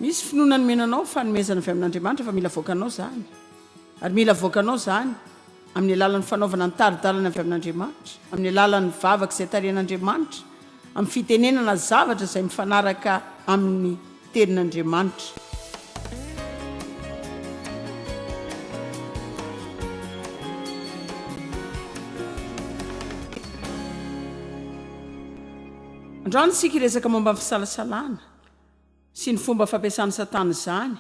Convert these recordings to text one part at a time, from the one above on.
misy finoana nomena anao fanomezana avy amin'andriamanitra fa mila voakanao zany ary mila voakanao zany amin'ny alalan'ny fanaovana ny taridalana avy amin'andriamanitra amin'ny alalan'ny vavaka izay tarehin'andriamanitra amin'ny fitenenana zavatra izay mifanaraka amin'ny tenin'Andriamanitra. Androany isika hiresaka momba ny fisalasalana sy ny fomba fampiasan'i Satana izany.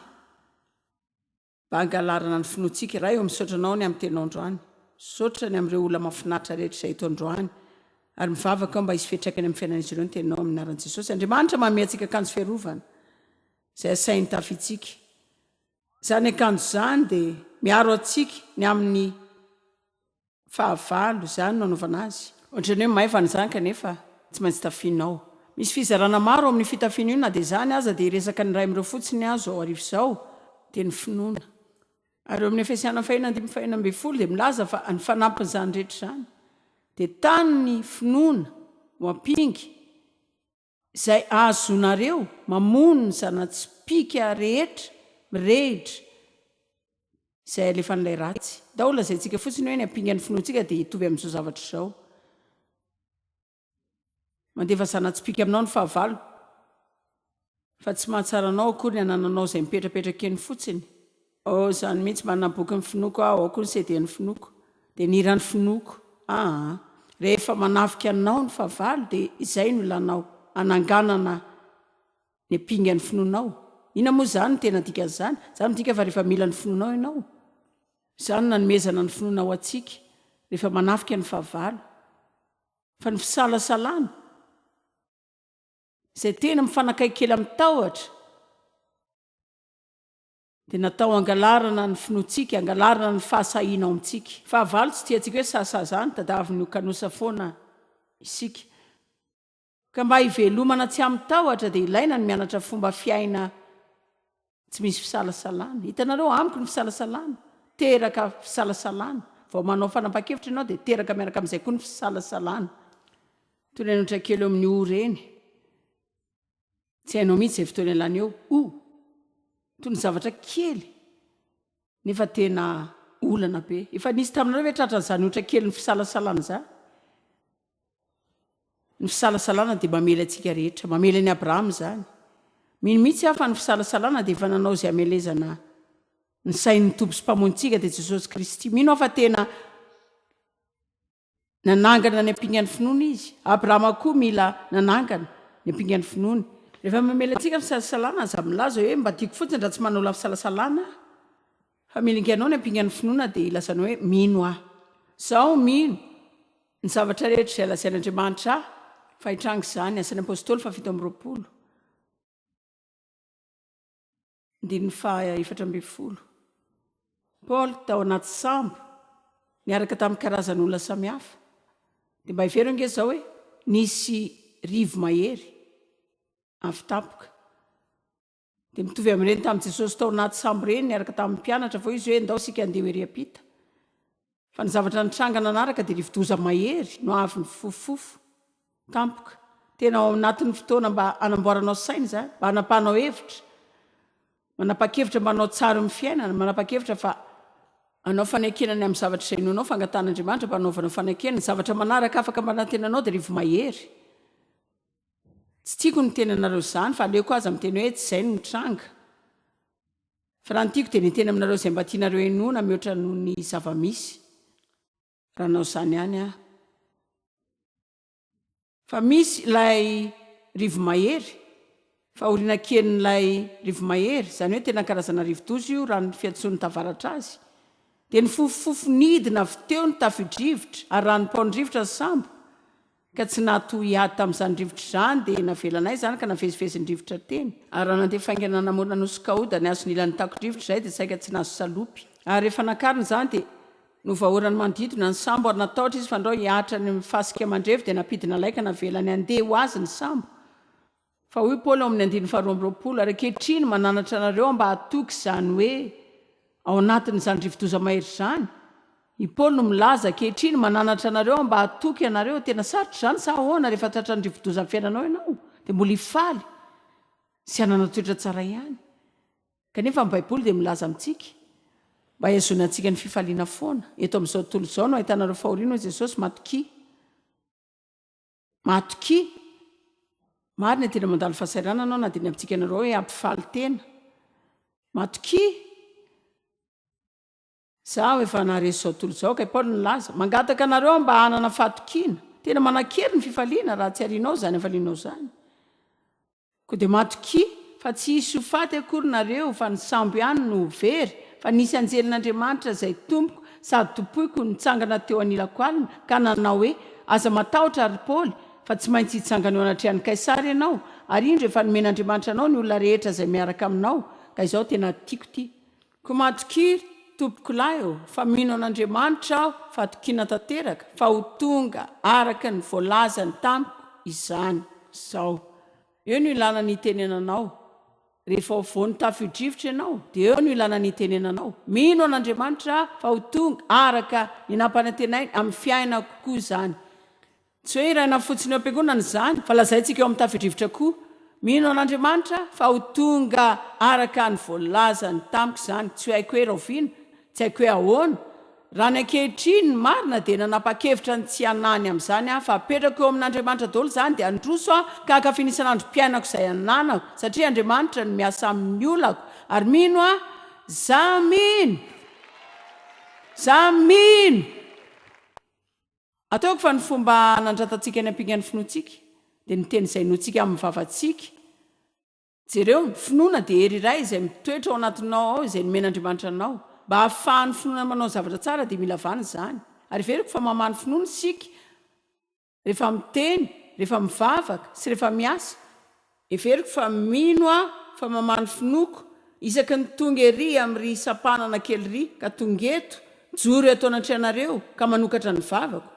Mba hangalarana ny finoantsika Ray ô misaotra Anao ny amin'ny Teninao androany Misaotra ny amin'ireo olona mahafinaritra rehetra izay eto androany Ary mivavaka aho mba hisy fiatraikany amin'ny fiainan'izy ireo ny Teninao amin'ny anaran'i Jesosy Andriamanitra manome antsika akanjo fiarovana izay asahin'ny tafintsika Izany akanjo izany dia miaro antsika ny amin'ny Fahavalo, izany no anaovana azy. Ohatran'ny hoe maivana izany kanefa tsy maintsy tafianao. Misy fizarana maro ao amin'io fitafiana io na dia izany aza dia hiresaka ny iray amin'ireo fotsiny azo ao arivo izao dia ny finoana. Ary eo amin'ny Efesiana fahiny andimy fahiny ambin'ny folo dia milaza fa ny fanampin'izany rehetra izany dia tany ny finoana ho ampinga Izay azonareo mamono ny zana-tsipìka rehetra mirehitra izay alefan'ilay ratsy. Ndao ho lazaintsika fotsiny hoe ny ampingan'ny finoantsika dia hitovy amin'izao zavatra izao, Mandefa zana-tsipìka aminao ny fahavalo, fa tsy mahatsara anao akory ny anananao izay mipetrapetraka eny fotsiny. Oh izany mihitsy manana boky ny finoako aho ao koa ny CD ny finoako dia ny hira ny finoako ah rehefa manafika anao ny fahavalo dia izay no ilanao hananganana ny pingan'ny finoanao inona moa izany ny tena dikan'izany izany midika fa rehefa mila ny finoanao ianao izany nanomezana ny finoana ho antsika rehefa manafika ny fahavalo fa ny fisalasalana izay tena mifanakaiky kely amin'ny tahotra Dia natao hangalarana ny finoantsika, hangalarana ny fahasahiana ao amintsika. Fahavalo, tsy tiantsika hoe sahasaha ny tadiavin'ny kanosa foana isika. Ka mba hivelomana tsy amin-tahotra dia ilaina ny mianatra fomba fiaina tsy misy fisalasalana. Hitanareo, amiko ny fisalasalana, teraka fisalasalana. Vao manao fanapahan-kevitra ianao dia teraka miaraka amin'izay koa ny fisalasalana. Toy ny an'ohatra kely eo amin'ny ory eny. Tsy hainao mihitsy izay fotoana ialana eo o! Toy ny zavatra kely nefa tena olana be. Efa nisy taminareo ve tratra an'izany ohatra kelin'ny fisalasalana izany? Ny fisalasalana dia mamely antsika rehetra, mamely an'i Abrahama izany. Mino mihitsy aho fa ny fisalasalana dia efa nanao izay hamelezana ny sain'ny Tompo sy Mpamonjintsika dia Jesosy Kristy. Mino aho fa tena Nanangana ny ampingan'ny finoany izy. Abrahama koa mila nanangana ny ampingan'ny finoany. Rehefa mamela antsika ny fisalasalana, aza milaza hoe, Mba tiako fotsiny raha tsy manao lafisalasalana aho. Fa milinganao ny ampingan'ny finoana dia ilazanao hoe, Mino aho. Izaho mino ny zavatra rehetra izay lazain'Andriamanitra ahy fa hitranga izany. Asan'ny Apostoly fahafito amby roapolo. Andininy faha efatra ambin'ny folo. Paoly tao anaty sambo niaraka tamin'ny karazan'olona samihafa. Dia mba hevero ange izao hoe nisy rivo-mahery avy tampoka. Dia mitovy amin'ireny tamin'i Jesosy tao anaty sambo ireny niaraka tamin'ny mpianatra vao izy hoe, Ndao isika handeha ho ery am-pita. Fa ny zavatra nitranga nanaraka dia rivodoza mahery no avy nifofofofo tampoka. Tena ao anatin'ny fotoana mba hanamboaranao saina izany, mba hanapahanao hevitra, manapa-kevitra mba hanao tsara eo amin'ny fiainana, manapa-kevitra fa hanao fanekena ny amin'ny zavatra izay inoanao, fangatahan'Andriamanitra mba hanaovanao fanekena. Ny zavatra manaraka afaka mba nantenanao dia rivo mahery. Tsy tiako ny miteny anareo izany fa aleoko aza miteny hoe tsy izay no nitranga. Fa raha ny tiako dia ny hiteny aminareo izay mba tianareo henoina mihoatra noho ny zava-misy, raha hanao izany ihany aho. Fa misy ilay rivo-mahery, fahoriana kelin'ilay rivo-mahery, izany hoe tena karazana rivo-doza io raha ny fiantsoan'ny tavaratra azy, dia nifofofofo nidina avy teo ny tafidrivotra ary ranom-paon-drivotra ny sambo, ka tsy natohy ady tamin'izany rivotra izany dia navelanay izany ka navezivezin-drivotra teny ary raha nandeha faingana namoana nosy Kaouda ny hazo nilany takon-drivotra izay dia saika tsy nahazo salopy ary rehefa nakarina izany dia novahoran'ny manodidina ny sambo ary natahotra izy fa andrao hiaatra any amin'ny fasika mandrevy dia nampidina laika navelany handeha ho azy ny sambo Fa hoy Paoly ao amin'ny andininy faharoa amby roapolo, Ary ankehitriny mananatra anareo mba hatoky izany hoe ao anatin'izany rivodoza mahery izany. I Paoly no milaza, Ankehitriny mananatra anareo mba hatoky anareo. Tena sarotra izany sa ahoana? Rehefa tratran'ny rivodoza ny fiainanao ianao, dia mbola hifaly sy hanana toetra tsara ihany. Kanefa ny Baiboly dia milaza amintsika mba hihazonana antsika ny fifaliana foana. Eto amin'izao tontolo izao no ahitana ireo fahoriana, hoy Jesosy, matokia. Matokia, marina dia mandalo fahasahiranana aho na dia ny amintsika nareo hoe hampifaly tena. Matokia, Izaho efa naharesy izao tontolo izao, kay Paoly nilaza, mangataka anareo mba hanana fahatokiana. Tena manan-kery ny fifaliana raha atsiharianao izany hafalianao izany. Koa dia matokia fa tsy hisy ho faty akory nareo fa ny sambo ihany no ho very, fa nisy anjelin'Andriamanitra izay tompoko sady tompoiko nitsangana teo anilako alina ka nanao hoe, Aza matahotra ry Paoly, fa tsy maintsy hitsangana eo anatrehan'i Kaisara ianao, ary indro efa nomen'Andriamanitra anao ny olona rehetra izay miaraka aminao, ka izao tena tiako ity Ko matokia tompokolahy ô, fa mino an'Andriamanitra aho fatokiana tanteraka fa ho tonga araka ny voalazany tamiko izany izao. Eo no ilana ny hitenenanao. Rehefa ho voan'ny tafio-drivotra ianao, dia eo no ilana ny hitenenanao. Mino an'Andriamanitra aho fa ho tonga araka ny nampanantenainy amin'ny fiainako koa izany. Tsy hoe iray na fotsiny eo am-piangonana izany, fa lazaintsika eo amin'ny tafidrivotra koa. Mino an'Andriamanitra fa ho tonga araka ny voalazany tamiko izany, tsy haiko hoe rahoviana, tsy haiko hoe ahoana. Raha ny ankehitriny, ny marina dia nanapa-kevitra ny tsy hanahy ny amin'izany aho, fa apetrako eo amin'Andriamanitra daholo izany, dia handroso aho ka hankafy ny isan'androm-piainako izay ananako, satria Andriamanitra no miasa amin'ny olako, ary mino aho, za mino! Za mino! Ataoko fa ny fomba hanandratantsika ny hampingan'ny finoantsika dia ny teny izay inoantsika amin'ny vavantsika. Jereo, ny finoana dia hery iray izay mitoetra ao anatinao ao izay nomen'Andriamanitra anao. Mba hahafahan'ny finoana manao zavatra tsara dia mila vana izany. Ary heveriko fa mamaha ny finoana isika rehefa miteny, rehefa mivavaka, sy rehefa miasa. Heveriko fa mino aho fa mamaha ny finoako isaky ny tonga ery amin'ry sampanana kely ry ka tonga eto mijoro eto anatrehanareo ka manokatra ny vavako.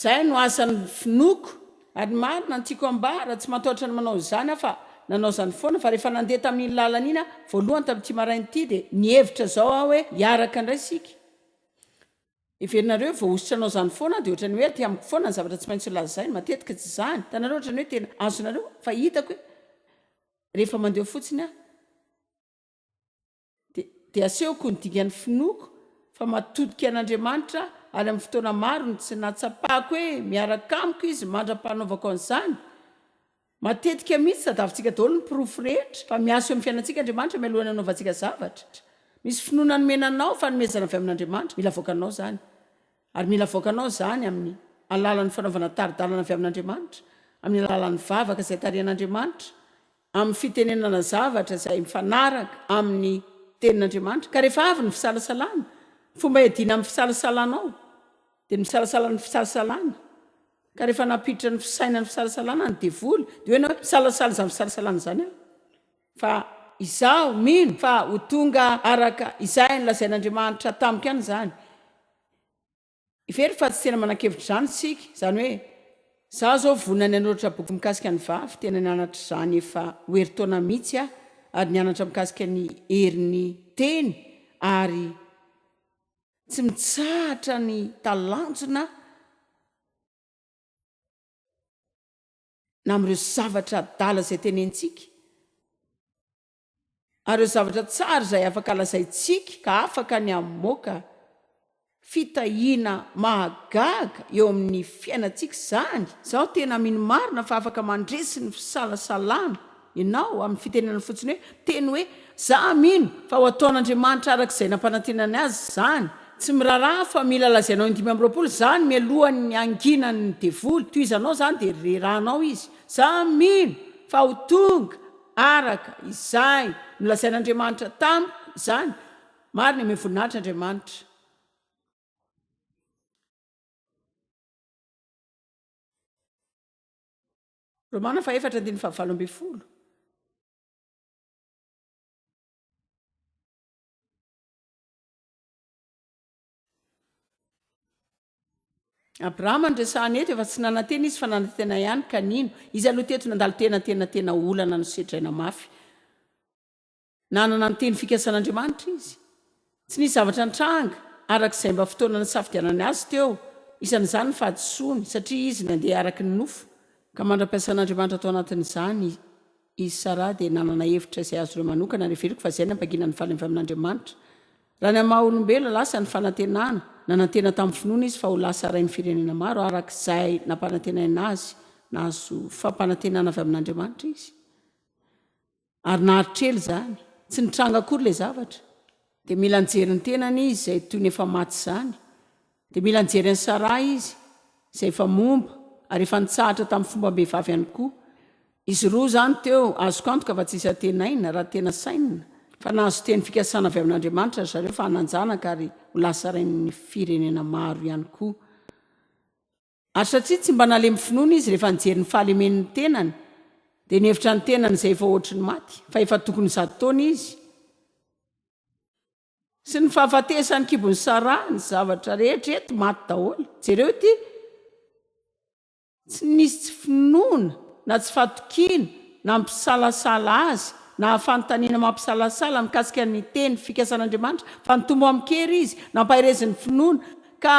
Zay no asan'ny finoako ary marina ny tiako ambara tsy matahotra ny manao izany aho fa nanao zany foana fa rehefa nandeha tamin'iny lalana iny aho voalohany tamin'ity maraina ity dia nihevitra zao aho hoe hiaraka indray isika Heverinareo hoe voahosotranao izany foana dia ohatran'ny hoe aty amiko foana ny zavatra tsy maintsy ho lazaina. Matetika tsy izany. Hitanareo ohatran'ny hoe tena azonareo fa hitako hoe rehefa mandeha eo fotsiny aho dia dia asehoko ny dikan'ny finoako fa matodika an'Andriamanitra aho ary amin'ny fotoana maro ny tsy nahatsapako hoe miaraka amiko izy mandra-panaovako an'izany Matetika mihitsy tadiavintsika daholo ny porofo rehetra fa miasa eo amin'ny fiainantsika Andriamanitra mialohan'ny hanaovantsika zavatra. Misy finoana nomena anao, fanomezana avy amin'Andriamanitra, mila avoakanao izany. Ary mila avoakanao izany amin'ny alalan'ny fanaovana tari-dalana avy amin'Andriamanitra, amin'ny alalan'ny vavaka izay tarihan'Andriamanitra, amin'ny fitenenana zavatra izay mifanaraka amin'ny Tenin'Andriamanitra. Ka rehefa avy ny fisalasalana, ny fomba iadiana amin'ny fisalasalanao dia ny misalasala ny fisalasalana. Ka rehefa nampiditra ny fisainany fisalasalana ny devoly dia hoe ianao misalasala izany fisalasalana izany aho fa izaho mino fa ho tonga araka izay nolazain'Andriamanitra tamiko ihany izany very fa tsy tena manankevitra izany isika izany hoe izaho izao vonona ny hanoratra boky mikasika ny vavy tena nianatra izany efa ho herintaona mihitsy aho ary nianatra mikasika ny herin'ny teny ary Tsy mitsahatra ny talanjona na amin'ireo zavatra adala izay tenentsika, ary ireo zavatra tsara izay afaka lazaintsika ka afaka ny hamoaka fitahiana mahagaga eo amin'ny fiainantsika izany. Izaho tena mino marina fa afaka mandresy ny fisalasalana. Ianao, amin'ny fitenenana fotsiny hoe, miteny hoe, Izaho mino fa ho ataon'Andriamanitra araka izay nampanantenany azy izany. Tsy miraharaha fa mila lazainao indimy amby roapolo izany mialohan'ny hanginan'ny devoly. Tohizanao izany dia rerahanao izy. Izaho mino fa ho tonga araka izay nolazain'Andriamanitra tamiko izany. Marina, omeo voninahitra Andriamanitra. Romana fahefatra andininy fahavalo ambin'ny folo. Abrahama no resahana eto, efa tsy nanantena izy fa nanantena ihany ka nino. Izy aloha teto nandalo tena tena tena olana nosedraina mafy. Nanana ny teny fikasan'Andriamanitra izy. Tsy nisy zavatra nitranga araka izay mba fotoana nisafidianany azy teo, isan'izany ny fahadisoany, satria izy nandeha araka ny nofo, ka mandra-piasan'Andriamanitra tao anatin'izany i Saraha dia nanana hevitra izay azonay manokana ary heveriko fa izay ny hampangina ny faly avy amin'Andriamanitra. Raha ny maha olombelona lasa ny fanantenana, nanantena tamin'ny finoana izy fa ho lasa rain'ny firenena maro araka izay nampanantenaina azy, nahazo fampanantenana avy amin'Andriamanitra izy. Ary nahatrely izany, tsy nitranga akory ilay zavatra. Dia mila nijery ny tenany izy izay toy ny efa maty izany. Dia mila nijery an'i Sarah izy, izay efa momba, ary efa nitsahatra tamin'ny fombam-behivavy ihany koa. Izy roa izany teo, azoko antoka fa tsy hisy antenaina, raha tena sainina, fa nahazo teny fikasana avy amin'Andriamanitra ry zareo fa hanan-janaka ary ho lasa rain'ny firenena maro ihany koa. Ary satria tsy mba nalemy finoana izy rehefa nijery ny fahalemen' ny tenany, dia nihevitra ny tenany izay efa hoatry ny maty, fa efa tokony zato taona izy, sy ny fahafatesan' ny kibon' i Saraha, ny zavatra rehetra eto maty daholo. Jereo ity, Tsy nisy tsy finoana, na tsy fatokiana, na mpisalasala azy, na hafantaniana mampisalasala mikasika ny teny fikasan' Andriamanitra, fa nitombo amin-kery izy, nampahereziny finoana, ka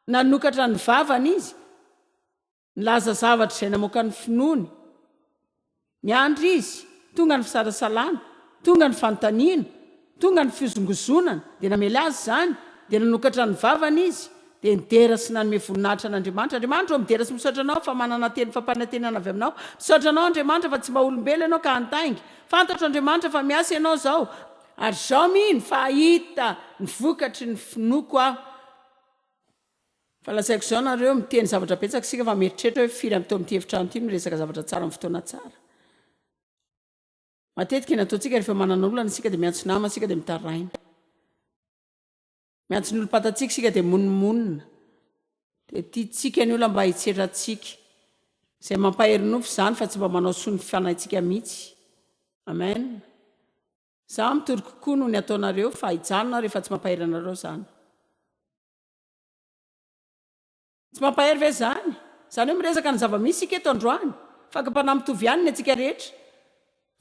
Nanokatra ny vavany izy, nilaza zavatra izay namoaka ny finoany. Niandry izy, tonga ny fisalasalana, tonga ny fanontaniana, tonga ny fihozongozonana, dia namely azy izany, dia nanokatra ny vavany izy, dia nidera sy nanome voninahitra an'Andriamanitra. Andriamanitra ô, midera sy misaotra Anao fa manana teny fampanantenana avy Aminao. Misaotra Anao, Andriamanitra, fa tsy mba olombelona Ianao ka hantainga. Fantatro, Andriamanitra, fa miasa Ianao izao, ary izaho mino fa hahita ny vokatry ny finoako aho. Fa lazaiko izao nareo, miteny zavatra betsaka isika fa mieritreritra hoe firy ampito amin'ity efitrano ity miresaka zavatra tsara amin'ny fotoana tsara. Matetika ny ataontsika rehefa manana olana isika dia miantso nama isika dia mitaraina. Miantso ny olom-patantsika isika dia monomonona. Dia tiantsika ny olona mba hitsetra antsika. Izay mampahery nofo izany fa tsy mba manao soa ny fanahintsika mihitsy. Amen. Za mitory kokoa noho ny ataonareo fa hijanona aho rehefa tsy mampahery anareo zany. Tsy mampahery ve zany? Zany hoe miresaka ny zava-misy isika eto androany. Fakam-panahy mitovy ihany ny antsika rehetra.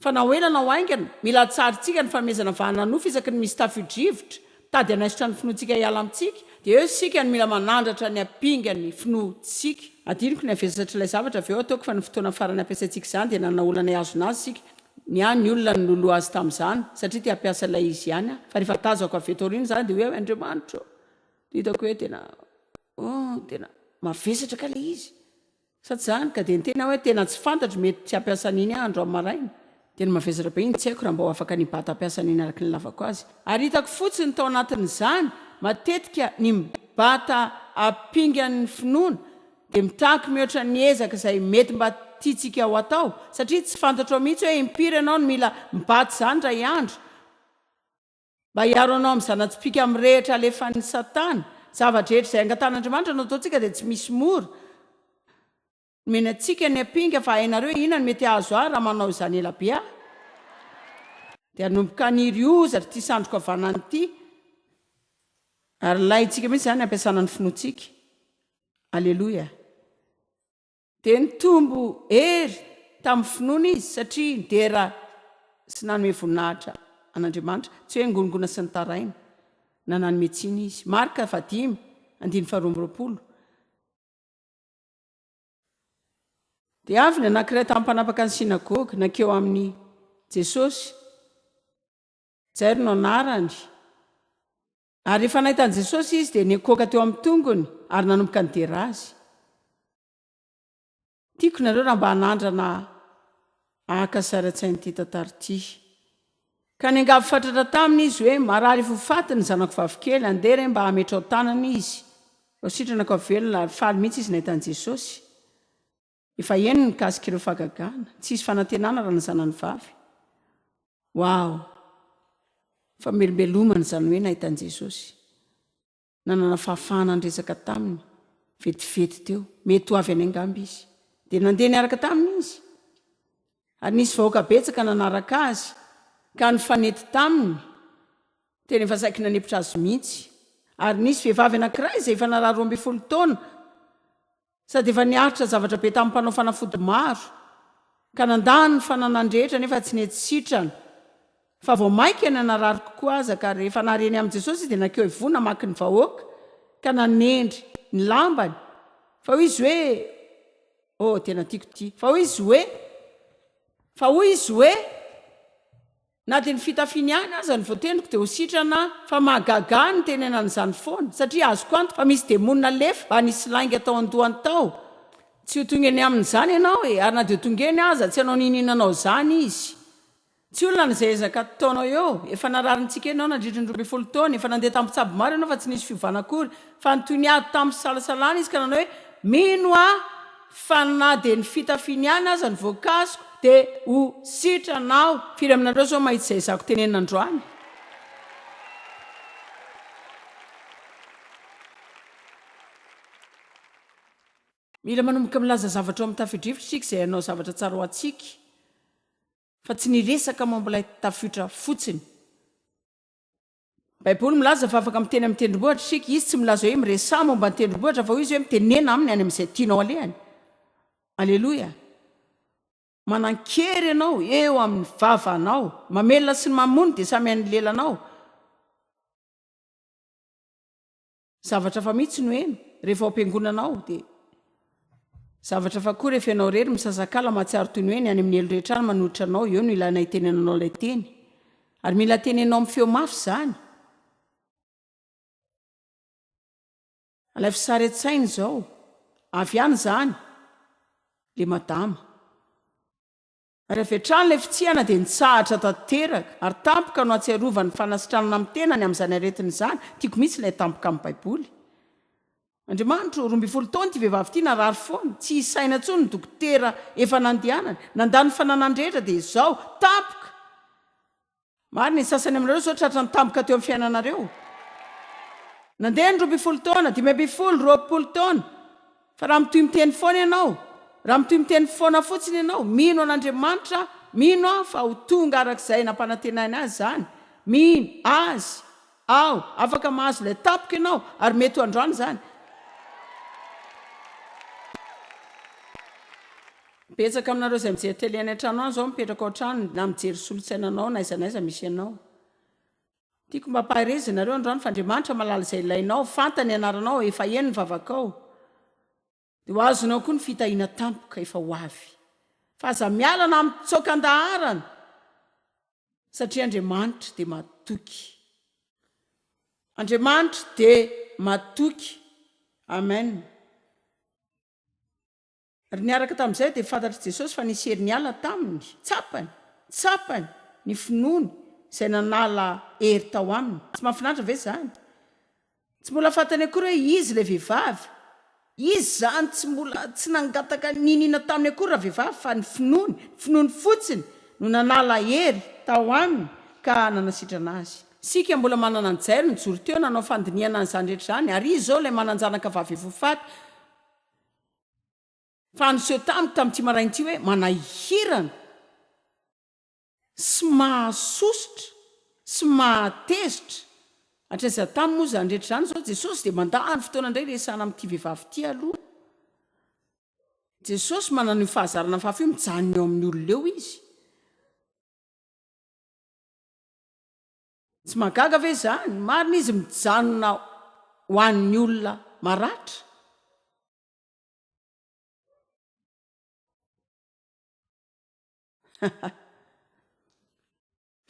Fa na ho ela na ho haingana, mila atsarintsika ny fanomezana vahana nofy isaky ny misy tafio-drivotra, Tady hanaisotra ny finoantsika hiala amintsika, dia eo isika no mila manandratra ny hampinga ny finoantsika. Hadinoko ny havesatr'ilay zavatra avy eo ataoko fa ny fotoana farany hampiasaintsika izany dia nanana olana hihazona azy isika, ny ahy ny olona no niloloha azy tamin'izany satria te hampiasa ilay izy ihany aho fa rehefa tazako avy eto aoriana izany dia hoe Andriamanitro ô! dia hitako hoe tena oh tena mavesatra kay ilay izy Sady izany ka dia niteny aho hoe tena tsy fantatro mety tsy hampiasa an'iny aho andro amin'ny maraina. Tena mavesatra be iny, tsy haiko raha mba ho afaka ny bata hampiasa an'iny araka ny ilavako azy. Ary hitako fotsiny tao anatin'izany matetika ny bata ampingan'ny finoana dia mitaky mihoatra ny ezaka izay mety mba tiantsika ho atao satria tsy fantatrao mihitsy hoe impiry ianao no mila mibata izany iray andro Mba hiaro anao amin'ny zana-tsipìka mirehitra alefan'i Satana. Ny zava-drehetra izay angatan'Andriamanitra no ataontsika dia tsy misy mora. Nomeny antsika ny ampinga, fa hainareo inona no mety hahazo ahy raha manao izany ela be aho? Dia hanomboka haniry hozatra ity sandriko havanana ity. Ary ilaintsika mihitsy izany hampiasana ny finoantsika. Aleloia! Dia nitombo hery tamin'ny finoana izy satria nidera sy nanome voninahitra an'Andriamanitra, tsy hoe nigongona sy nitaraina na nanome tsiny izy. Marka fahadimy andininy faharoa amby roapolo. Dia avy ny anankiray tamin'ny mpanapaka ny synagoga, nankeo amin'i Jesosy, Jairo no anarany, Ary rehefa nahita an'i Jesosy izy, dia nikoaka teo amin'ny tongony ary nanomboka nidera Azy. Tiako nareo raha mba hanandrana haka sary an-tsaina ity tantara ity. Ka niangavy fatratra taminy izy hoe, Marary fo faty ny zanako vavikely, andeha re mba hametrao tanana izy, vao sitranako havelona, ary faly mihitsy izy nahita an'i Jesosy. Efa heno ny mikasika ireo fahagagana, tsisy fanantenana raha ny zanany vavy. Wow! Famelombelomana izany hoe nahita an'i Jesosy, nanana fahafahana niresaka taminy vetivety teo. Mety ho avy any angamba izy. Dia nandeha niaraka taminy izy. Ary nisy vahoaka betsaka nanaraka azy ka nifanety taminy, tena efa saiky nanempotra azy mihitsy. Ary nisy vehivavy anankiray izay efa narary roa ambin'ny folo taona. Sady efa niaritra zavatra be tamin'ny mpanao fanafody maro ka nandany ny fananany rehetra nefa tsy nety sitrana. Fa vao maika ny narary kokoa aza ka rehefa nary eny amin'i Jesosy izy dia nankeo ivoho namaky ny vahoaka ka nanendry ny lambany fa hoy izy hoe, Oh, tena tiako ity, fa hoy izy hoe, fa hoy izy hoe, Na dia ny fitafiany ihany aza no voatendriko dia ho sitrana aho. Fa mahagaga ahy ny nitenenany izany foana, satria azoko antoka fa misy demona lefy mba nisy lainga tao an-dohany tao. Tsy ho tonga eny aminy izany ianao e! Ary na dia ho tonga eny aza, tsy hanao n'inon'inona anao izany izy. Tsy olona na izay ezaka ataonao eo. Efa nararintsika ianao nandritra ny roa ambin'ny folo taona. Efa nandeha tampitsabo maro ianao fa tsy nisy fiovana akory. Fa nitohy niady tamin'ny fisalasalana izy ka nanao hoe, Mino aho! Fa na dia ny fitafiany ihany aza no voakasiko dia ho sitrana aho. Firy aminareo izao mahita izay zako tenenina androany? Mila manomboka milaza zavatra ao amin'ny tafio-drivotra isika izay hanao zavatra tsara ho antsika, fa tsy ny hiresaka momba ilay tafiotra fotsiny. Baiboly milaza fa afaka miteny amin'ny tendrombohitra isika. Izy tsy milaza hoe miresaha momba ny tendrombohitra fa hoy izy hoe mitenena aminy any amin'izay tianao alehany. Aleloia. Manan-kery ianao eo amin'ny vavanao. Mamelona sy ny mamono dia samy an'ny lelanao. Zavatra hafa mihitsy no heno rehefa ao am-piangonana ao dia Zavatra hafa koa rehefa ianao irery misasakala mahatsiaro toy ny hoe ny any amin'ny helo rehetra any manohitra anao eo no ilaina hitenenanao ilay teny ary mila tenenao amin'ny feo mafy izany ilay fisaretsaina izao avy any izany le madama Ary avy hatrany ilay fitsihana dia nitsahatra tanteraka, ary tampoka no ahatsiarovany ny fanasitranana amin'ny tenany amin'izany aretina izany, tiako mihitsy ilay tampoka amin'ny Baiboly. Andriamanitro, roa ambin'ny folo taona ity vehivavy ity narary foana, tsy isaina intsony ny dokotera efa nandehanany, nandà ny fananany rehetra dia izao, tampoka! Marina, ny sasany aminareo izao tratra ny tampoka teo amin'ny fiainanareo. Nandeha ny roa ambin'ny folo taona, dimy ambin'ny folo, roapolo taona. Fa raha mitohy miteny foana ianao, raha mitohy miteny foana fotsiny ianao, mino an'Andriamanitra, mino aho fa ho tonga araka izay nampanantenainy azy izany, mino Azy, Aho, afaka mahazo ilay tapoka ianao, ary mety ho androany izany. Betsaka aminareo izay mijery tele any an-trano any izao mipetraka ao an-trano na mijery solontsaina anao na aiza na aiza misy anao. Tiako mba hampaherezana anareo androany fa Andriamanitra mahalala izay ilainao, fantany ny anaranao, efa eny ny vavakao. Dia ho azonao koa ny fitahiana tampoka efa ho avy. Fa aza miala na mitsoaka an-daharana, satria Andriamanitra dia matoky. Andriamanitra dia matoky. Amen. Ary niaraka tamin'izay dia fantatr'i Jesosy fa nisy hery niala taminy. Tsapany, tsapany ny finoany izay nanala hery tao aminy. Tsy mahafinaritra ve izany? Tsy mbola fantany akory hoe izy ilay vehivavy. Izy izany tsy mbola tsy nangataka niniana taminy akory ravehivavy fa ny finoany, ny finoany fotsiny no nanala hery tao aminy ka nanasitrana azy. Isika mbola manana an'i Jairo nijoro teo nanao fandinihana an'izany rehetra izany ary izy izao ilay manan-janaka vavy efa ho faty fa niseho tamiko tamin'ity maraina ity hoe manahirana. sy mahazo sosotra sy mahatezitra, hatraiza tany moa izany rehetra izany, izao Jesosy dia mandà ny fotoana indray hiresahana amin'ity vehivavy ity aloha, Jesosy manana io fahazarana fahafa io, mijanona eo amin'ny olona eo Izy, tsy mahagaga ve izany? Marina Izy mijanona ho an'ny olona maratra,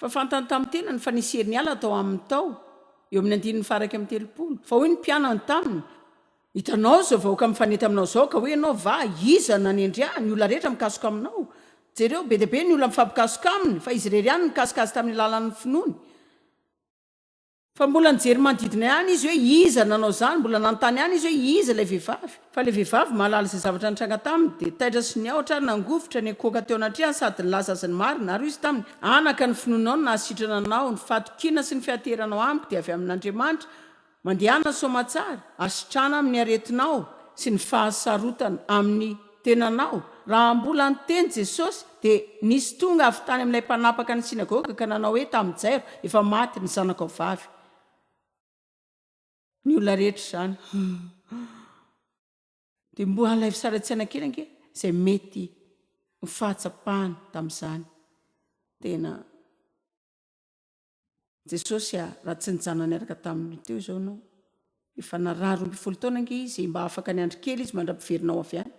Fa fantany tamin'ny tenany fa nisy herin'ny ala tao aminy tao, eo amin'ny andininy faha-iraika amby telopolo. Fa hoy ny mpianany taminy, Hitanao izao vahoaka mifanety aminao izao, ka hoy ianao, Va iza nanendry ahy? Ny olona rehetra mikasoka aminao. Jereo, be dia be ny olona mifampikasoka aminy, fa izy irery ihany nikasoka azy tamin'ny alalan'ny finoany. Fa mbola nijery manodidina ihany izy hoe iza nanao izany, mbola nanontany ihany izy hoe iza ilay vehivavy. Fa ilay vehivavy mahalala izay zavatra nitranga taminy, dia taitra sy niahotra ary nangovitra niankohoka teo anatrehany sady nilaza azy ny marina, ary hoy izy taminy, Anaka, ny finoanao no nahasitrana anao, ny fahatokiana sy ny fianteheranao amiko dia avy amin'Andriamanitra, mandehana soamantsara, asitrana amin'ny aretinao sy ny fahasarotana amin'ny. tenanao. Raha mbola niteny Jesosy, dia nisy tonga avy tany amin'ilay mpanapaka ny synagoga ka nanao hoe tamin'i Jairo, Efa maty ny zanakao vavy. Ny olona rehetra izany. Dia mbola ilay fisaratsiana kely ange izay mety ho fahatsapany tamin'izany. Tena. Jesosy a, raha tsy nijanona niaraka taminy teo izao ianao. Efa narary roa ambin'ny folo taona ange izy, mba afaka niandry kely izy mandra-piverinao avy any.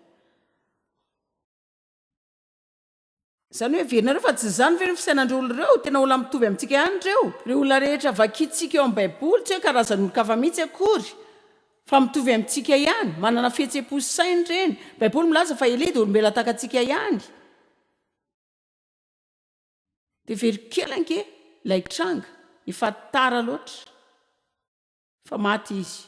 Izany hoe heverinareo fa tsy izany ve no fisainan'ireo olona ireo? Tena olona mitovy amintsika ihany ireo. Ireo olona rehetra vakintsika eo amin'ny Baiboly, tsy hoe karazan'olon-kafa mihitsy akory, fa mitovy amintsika ihany. Manana fihetseham-po sy saina ireny. Ny Baiboly milaza fa Elia dia olombelona tahaka antsika ihany. Dia very kely ange ilay tranga, efa tara loatra fa maty izy.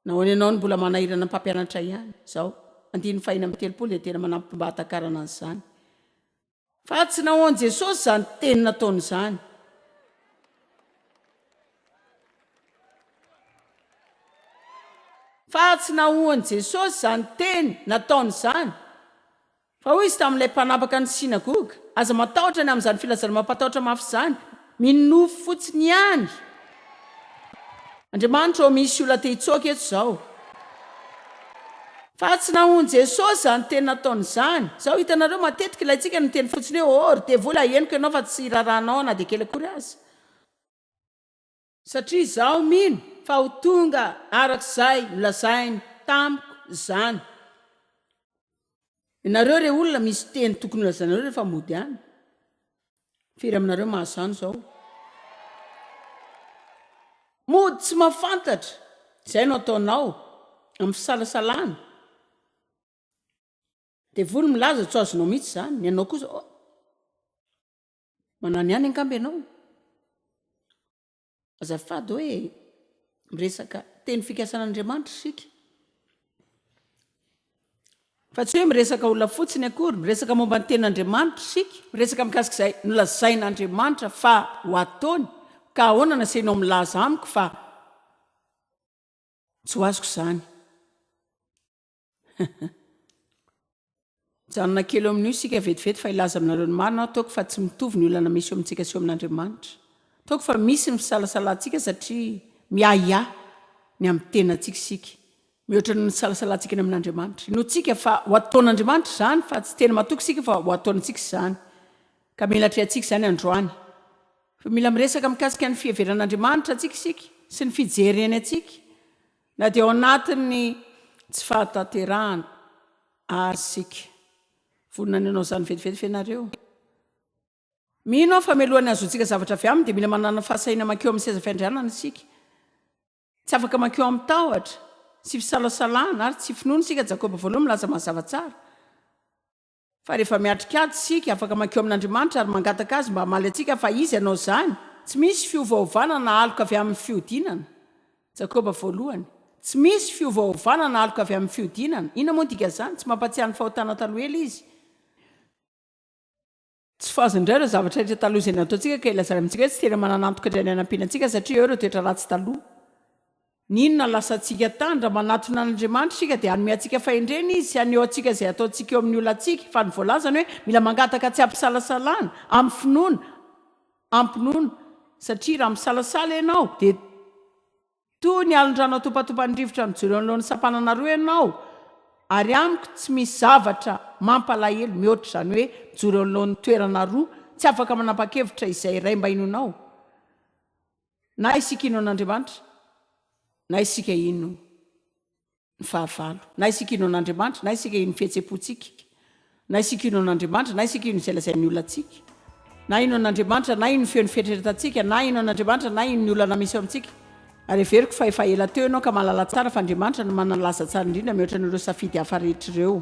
Nahoana ianao no mbola manahirana ny mpampianatra ihany? Izao, andininy fahiny amby telopolo dia tena manampy ny mba hahatakarana an'izany. Fa tsy nahoan'i Jesosy izany teny nataony izany. Fa tsy nahoan'i Jesosy izany teny nataony izany. Fa hoy izy tamin'ilay mpanapaka ny synagoga, Aza matahotra ny amin'izany filazana mampatahotra mafy izany. Mino nofy fotsiny ihany. Andriamanitra ô, misy olona te hitsoaka eto izao. Fa tsy nahoan'i Jesosy izany teny nataony izany. Izao, hitanareo, matetika ilaintsika ny miteny fotsiny hoe, Oh, ry devoly, ahenoko ianao fa tsy irarahanao aho na dia kely akory aza. Satria izaho mino fa ho tonga araka izay nolazainy tamiko izany. Ianareo re olona misy teny tokony holazainareo rehefa mody any. Firy aminareo mahazo izany izao? Mody tsy mahafantatra izay no ataonao amin'ny fisalasalana. Devoly milaza tsy ho azonao mihitsy izany, ianao kosa oh! Manao ny any angamba ianao. Azafady hoe miresaka teny fikasan'Andriamanitra isika. Fa tsy hoe miresaka olona fotsiny akory, miresaka momba ny tenin'Andriamanitra isika, miresaka mikasika izay nolazain'Andriamanitra fa ho ataony, ka ahoana nasainao milaza amiko fa tsy ho azoko izany. Mijanona kely eo amin'io isika vetivety fa hilaza aminareo ny marina aho, toaka fa tsy mitovy ny olana misy eo amintsika sy eo amin'Andriamanitra. Toaka fa misy ny fisalasalantsika satria miahiahy ny amin'ny tenantsika isika, mihoatra noho ny fisalasalantsika ny amin'Andriamanitra. Inoantsika fa ho ataon'Andriamanitra izany fa tsy tena matoky isika fa ho ataony antsika izany, ka mila atrehantsika izany androany. Fa mila miresaka mikasika ny fiheveran'Andriamanitra antsika isika sy ny fijereny antsika. Na dia ao anatin'ny tsy fahatanterahana àry isika, vonona ny hanao izany vetivety ve ianareo? Mino aho fa mialohan'ny hahazoantsika zavatra avy aminy, dia mila manana fahasahiana mankeo amin'ny seza fiandrianana isika. Tsy afaka mankeo amin'ny tahotra sy fisalasalana ary tsy finoana isika, Jakoba Voalohany milaza mazava tsara. Fa rehefa miatrika ady isika, afaka mankeo amin'Andriamanitra ary mangataka Azy mba hamaly antsika, fa Izy hanao izany. Tsy misy fiovaovana na aloka avy amin'ny fihodinana. Jakoba voalohany. Tsy misy fiovaovana na aloka avy amin'ny fihodinana. Inona moa ny dikan'izany? Tsy mampahatsiahy ny fahotana taloha ela Izy. Tsy fazo indray ireo zavatra rehetra taloha izay nataontsika, ka ilazana amintsika hoe tsy tena manana antoka indray ny hanampiana antsika, satria eo ireo toetra ratsy taloha. N'inona lasantsika tany? Raha manatona an'Andriamanitra isika dia hanome antsika fahendrena Izy sy haneho antsika izay ataontsika eo amin'ny olantsika. Fa ny voalazany hoe mila mangataka tsy am-pisalasalana, amin'ny finoana, am-pinoana. Satria raha misalasala ianao dia toy ny alin-drano atopatopan'ny rivotra mijoro eo anoloan'ny sampanana roa ianao, ary amiko tsy misy zavatra mampalahelo mihoatra izany hoe mijoro eo anoloan'ny toerana roa, tsy afaka manapa-kevitra izay iray mba hinoanao. Na isika hino an'Andriamanitra, na isika hino ny fahavalo, na isika hino an'Andriamanitra, na isika hino ny fihetseham-pontsika, na isika hino an'Andriamanitra, na isika hino izay lazain'ny olona antsika, na hino an'Andriamanitra, na hino ny feon'ny fieritreretantsika, na hino an'Andriamanitra, na hino ny olana misy eo amintsika. Ary heveriko fa efa ela teo ianao ka mahalala tsara fa Andriamanitra no manana ny laza tsara indrindra mihoatra an'ireo safidy hafa rehetra ireo.